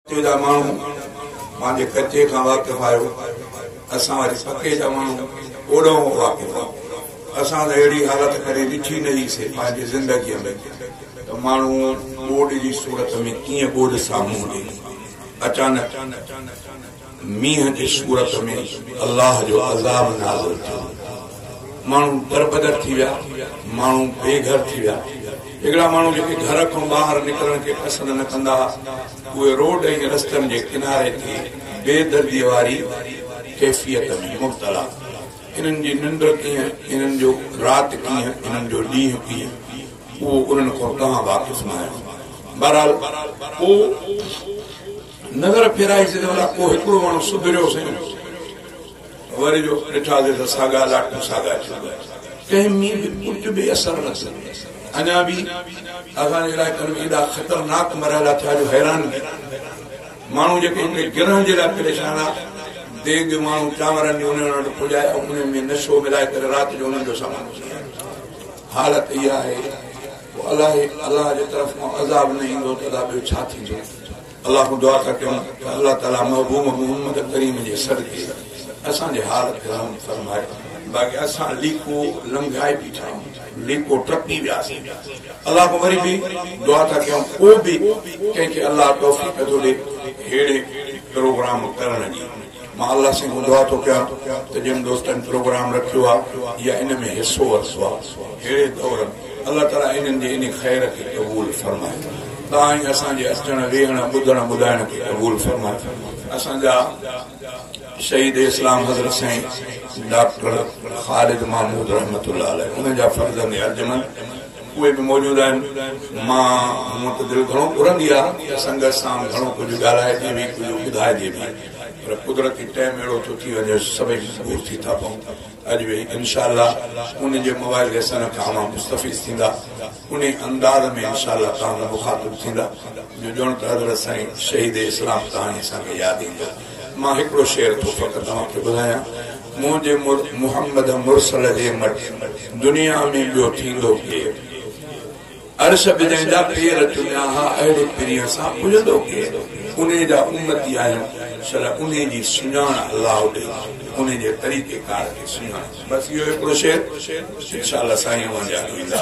اتي جا ماڻهو پنهنجي ڪچي کان واقف آهيو، اسان واري پڪي جا ماڻهو اوڏانهن واقف آهيون. اسان ته اهڙي حالت ڪڏهن ڏٺي نه هئي سي پنهنجي زندگيء ۾ ته ماڻهو ٻوڏ جي صورت ۾ ڪيئن ٻوڏ سامهون هجي. اچانڪ. مينهن جي صورت ۾ الله جو عذاب نازل ٿيو، ماڻهو دربدر ٿي ويا، ماڻهو بي گهر ٿي ويا، هڪڙا ماڻهو جيڪي گهر کان ٻاهر نڪرڻ کي پسند نه ڪندا ها، اهي روڊ ۽ رستن جي ڪناري تي بي درديء واري ڪيفيت ۾ مبتلا، انهن جي ننڊ ڪيئن، انهن جو رات ڪيئن، انهن جو ڏينهن ڪيئن، اهو انهن کان توهان واقف ناهيو، بهرحال پوء. نظر ڦيرائي ڇڏيو الاء ڪو هڪڙو ماڻهو سڌريو سين وري جو ڏٺا سين ته ساڳا لاٽون ساڳا ٿي ويا ڪنهن ۾ به ڪجهه به اثر نه ٿيو اڃا به اسان جي علائقن ۾ ايڏا خطرناڪ مرحلا ٿيا جو حيران به ماڻهو جيڪي هڪڙي گرهن جي لاء پريشان آ ديڳ ماڻهو چانورن جي انهن وٽ پڄائي انهن ۾ نشو ملائي ڪري رات جو انهن جو سامان حالت اها آهي الله الله جي طرف عذاب نه ايندو ته ادا ٻيو ڇا ٿيندو الله کان دعا ٿا ڪريون ته الله تعالي محبوب محمد ڪريم جي صدقي اسان جي حال کي رحم فرمائي باقي اسان ليڪو لنگهائي بيٺا آهيون ليڪو ٽپي وياسين الله کان وري به دعا ٿا ڪريون ڪو به ڪنهن کي الله توفيق ٿو ڏي ههڙي پروگرام ڪرڻ جي مان الله سين دعا ٿو ڪيان ته جن دوستن پروگرام رکيو آ يا ان ۾ حصو ورتو آ ههڙي دور ۾ الله تعالي انهن جي انهي خير کي قبول فرمائي تان ۽ اسان جي اچڻ ويهڻ ٻڌڻ ٻڌائڻ کي قبول فرمائي اسان جا شهيد اسلام حضرت سائين ڊاڪٽر خالد محمود رحمت الله عليه انهن جا فرزند ارجمند اهي به موجود آهن. مان، مون وٽ دل گهڻو گهرندي آ ته سنگت سان گهڻو ڪجهه ڳالهائجي به ڪجهه ٻڌائجي به پر قدرتي ٽيم اهڙو ٿو ٿي وڃي جو سڀئي مجبور ٿي ٿا پئون اڄ به انشاء الله ان جي مواعظي سان ڪا اوهان مستفيض ٿيندا انهي انداز ۾ انشاء الله توهان سان مخاطب ٿيندا جو ڄڻ ته حضرت سائين شهيد اسلام تهاني اسان کي ياد ايندو مان هڪڙو شعر ٿو فقط اوهان کي ٻڌايان. منهنجي مرد محمد مرسل جي مٽ دنيا ۾ ٻيو ٿيندو ڪير؟ عرش به جنهن جا پير چميا ها، اهڙي پرينء سان پڄندو ڪير؟ انهيء جا امتي آهيون، صلّي انهيء جي سڃاڻ الله ڏي، انهيء جي طريقيڪار کي سڃاڻ. بس اهو هڪڙو شعر، انشاء الله سائين اوهان جا به ايندا.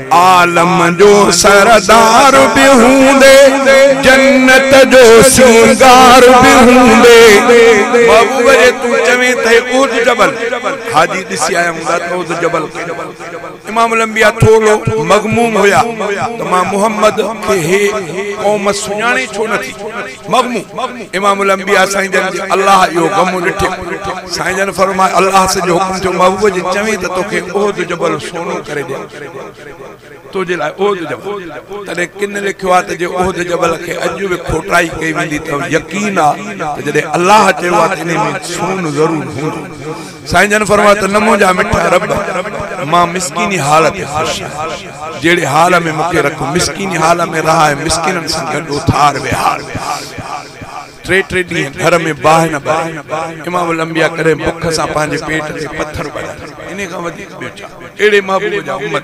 عالم جو سردار به هوندي، جنت جو سينگار به هوندي. محبوب جي تون چوين ته هي احد جبل حاجي ڏسي آيا هوندا ته احد جبل ڪيڏو وڏو آهي. امام الانبياء ٿورڙو مغموم هيا ته مان محمد کي هي قوم سڃاڻي ڇو نٿي. مغمو، امام الانبياء سائين جن جي الله اهو غمون ڏٺي، سائين جن فرمايو الله سڄو حڪم ٿيو محبوب جي چوين ته توکي احد جبل سونو ڪري ڏيان تنهنجي لاء احد جبل تڏهن ڪن لکيو آهي ته جي احد جبل کي اڄ به کوٽائي ڪئي ويندي ته يقين آهي ته جڏهن الله چيو آهي ته انهي ۾ سون ضرور هوندو سائين جن فرمايو ته نه منهنجا مٺا رب، مان مسڪيني حال تي خوش آهيان، جهڙي حال ۾ مون کي رکو، مسڪيني حال ۾ رهاء ۽ مسڪينن سان گڏ اٿار وهار به آهي. ٽي ٽي ڏينهن گهر ۾ باهه نه ٻري، امام الانبياء ڪڏهن بک سان پنهنجي پيٽ تي پٿر ٻريا، انهي کان وڌيڪ ٻيو ڇا؟ اهڙي محبوب جا امت.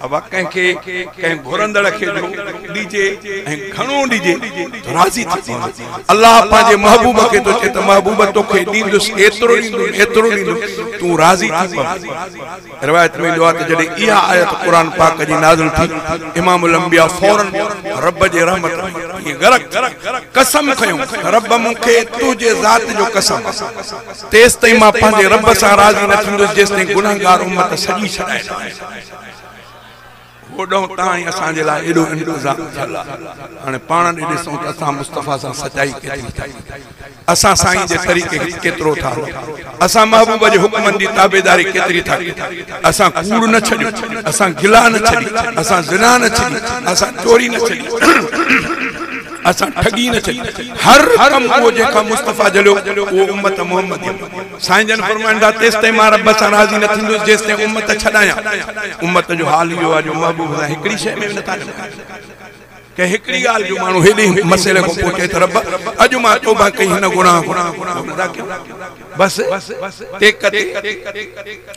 اھا ڪنھن کي ڪنھن گھرندڙ کي جو ڏجي ۽ گھڻو ڏجي تو راضي ٿي پوندو. الله پنھنجي محبوب کي ٿو چئي ته محبوب توکي ڏيندس ايترو ڏيندس ايترو ڏيندس تون راضي ٿي پوين. روايت ۾ ايندو آھي ته جڏھن اھا آيت قرآن پاڪ جي نازل ٿي امام الانبياء فورن رب جي رحمت ۾ غرق ٿي قسم کنيو ته رب مون کي تنھنجي ذات جو قسم تيستائين مان پنھنجي رب سان راضي نه ٿيندس جيستائين گنھگار امت سڄي ڇڏائي نه آئين. هوڏهن تان ئي اسان جي لاء ايڏو انتظام ٿيل آ. هاڻي پاڻ ڏي ڏسون ته اسان مصطفيٰ سان سچائي ڪيتري ٿا ڪريون. اسان سائين جي طريقي هيٺ ڪيترو ٿا هلون. اسان محبوب جي حڪمن جي تابعداري ڪيتري ٿا ڪريون. اسان ڪوڙ نه ڇڏيو. اسان گلا نه ڇڏي. اسان زنا نه ڇڏي. اسان چوري نه ڇڏي. اسان ٺڳي نه ڇڏي. هر ڪم اهو جنهن کان مصطفيٰ جليو اهو امت محمديء ۾. سائين جن فرمائن ٿا، تيستائين مان رب سان راضي نه ٿيندس جيستائين امت ڇڏايان. امت جو حال اهو آهي جو محبوب سان هڪڙي شيء ۾ به نٿا ڇڏايون. ڪنهن هڪڙي ڳالهه جو ماڻهو هيڏي مسئلي کان پوء چئي ته رب اڄ مان توبه ڪئي هن گناهه کان. بس تي ڪتي.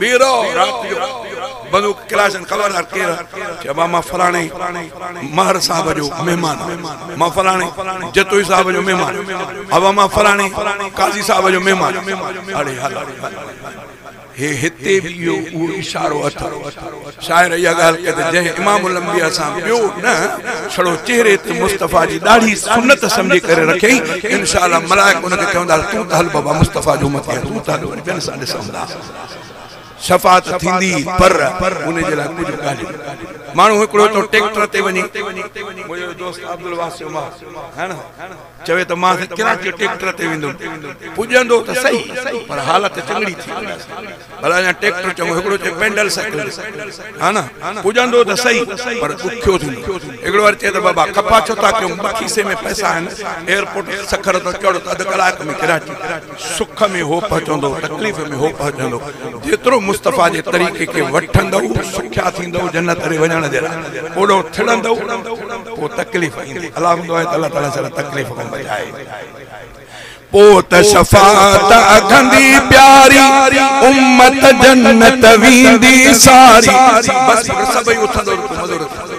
ٻيرو رات جو بنو قريظه خبردار ڪير چئبو آ مان فلاڻي مهر صاحب جو مهمان آ مان فلاڻي جتوئي صاحب جو مهمان آ ابا مان فلاڻي قاضي صاحب جو مهمان آ اڙي هل هي هتي به اهو اشارو اٿئي شاعر اها ڳالهه ڪئي ته جنهن امام الانبياء سان ٻيو نه ڇڙو چهري تي مصطفيٰ جي ڏاڙهي سنت سمجهي ڪري رکيائين انشاء الله ملائڪ ان کي چوندا تون ته هل بابا مصطفيٰ جو امتي آهين تون ته هل وري ٻين سان ڏسون ٿا شفاعت ٿيندي پر ان جي لاء ڪجهه ڳالهيون ماڻهو هڪڙو ٿو ٽيڪٽر تي وڃي منهنجو دوست عبدالواسع عمر چوي ته مان سين ڪراچي ٽيڪٽر تي ويندم، پڄندو ته سهي پر حالت چڱڙي ٿي ويندس، ڀلا اڃا ٽيڪٽر چڱو هڪڙو چئي پينڊل سائيڪل تي ها نه، پڄندو ته سهي پر ڏکيو ٿيندو، هڪڙو وري چئي ته بابا خفا ڇو ٿا ڪيون، کيسي ۾ پئسا آهن، ايئرپورٽ سکر تان چڙهه ته اڌ ڪلاڪ ۾ ڪراچي. سک ۾ هو پهچندو، تڪليف ۾ هو پهچندو. جيترو مصطفيٰ جي طريقي کي وٺندؤ، سکيا ٿيندؤ، جنت ڏي وڃڻ جي لاء اوڏو ٿڙندؤ، پوء تڪليف ايندي. الله هوندو آهي ته الله تعاليٰ ساري تڪليف کان بچائي. پوء ته شفاعت اگهندي پياري، امت جنت ويندي ساري. بس پوء ته سڀئي اٿندؤ، رڳو مزو رٿندؤ.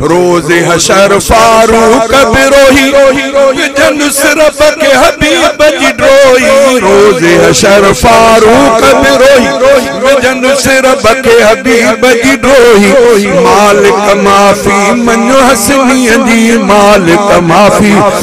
روز حشر فاروق بروهي وجهن صرف کي حبيب جي ڊوهي روز حشر فاروق بروهي وجهن صرف کي حبيب جي ڊوهي مالڪ معافي منو حسنين جي مالڪ معافي